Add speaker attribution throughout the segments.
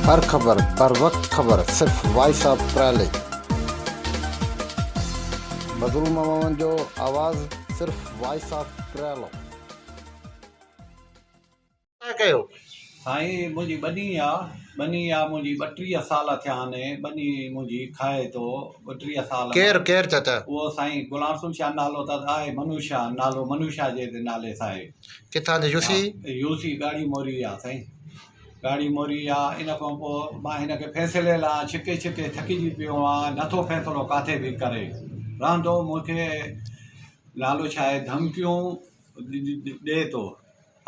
Speaker 1: هر خبر بر وقت خبر صرف وائس آف پرائليج. مظلوم عوامن جو آواز صرف وائس آف پريالو. سائين
Speaker 2: منهنجي ٻني آ ٻني آ منهنجي ٻٽيهه سال ٿيا آهن ٻني منهنجي کائي ٿو ٻٽيهه سال ڪير ڪير چاچا
Speaker 1: اهو سائين غلام
Speaker 2: رسول شاهه نالو اٿس آهي منوش شاهه نالو منوش شاهه جي نالي سان آهي ڪٿان جو يوسي؟
Speaker 1: يوسي ڳاڙهي
Speaker 2: موري آ سائين ڳاڙهي موري آ ان کان پوء مان هن کي فيصلي لاء ڇڪي ڇڪي ٿڪجي پيو آ نٿو فيصلو ڪاٿي به ڪري رهندو مون کي نالو ڇا آهي ڌمڪيون ڏي ٿو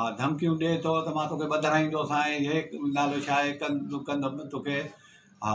Speaker 2: آ ڌمڪيون ڏي ٿو ته مان توکي ٻڌرائيندوسانء هي نالو ڇا آهي ڪن ڪندم توکي آ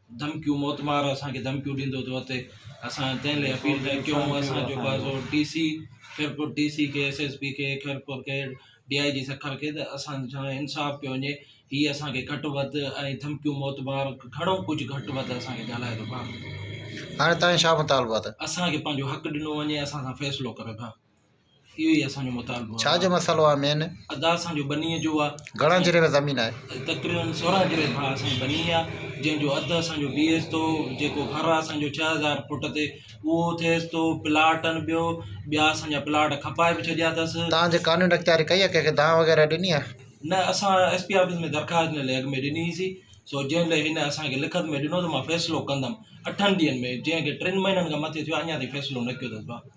Speaker 3: ڌمڪيون موتمار اسان کي ڌمڪيون ڏيندو ٿو اتي اسان تنهن لاء اپيل ٿا ڪيون اسان جو بازو D C Khairpur D C کي ايس ايس پي کي خيرپور کي ڊي آء جي سکر کي ته اسان سان انصاف ڪيو وڃي هي اسان کي گهٽ وڌ ۽ ڌمڪيون موتبار گهڻو ڪجهه گهٽ وڌ اسان کي ڳالهائي ٿو پاڻ هاڻي تائين
Speaker 1: شاهه مطالبات اسان کي پنهنجو حق ڏنو
Speaker 3: وڃي اسان سان فيصلو ڪري ڀا اهو ئي اسان جو مطالبو آهي. ڇا جو مسئلو آهي مين؟
Speaker 1: ادا اسان جو ٻنيء
Speaker 3: جو آ. گهڻا جري ۾ زمين آهي؟
Speaker 1: تقريبن سورهن جري
Speaker 3: کان اسان جي ٻني آ جنهن جو اڌ اسان جو بيهيس ٿو جيڪو گهر آ اسان جو ڇهه هزار فوٽ تي اهو ٿئيس ٿو پلاٽ ان ٻيو ٻيا اسان جا پلاٽ کپائي به ڇڏيا اٿس. توهان جي قانوني اختياري
Speaker 1: ڪئي آهي ڪنهن کي دانهن وغيره ڏني آهي؟ نه اسان ايس پي
Speaker 3: آفيس ۾ درخواست هن لئي اڳ ۾ ڏني هئي سي سو جنهن لئي هن اسان کي لکت ۾ ڏنو ته مان فيصلو ڪندم اٺن ڏينهن ۾ جنهن کي ٽن مهينن کان مٿي ٿيو آهي اڃا تائين فيصلو نه ڪيو اٿس ڀا.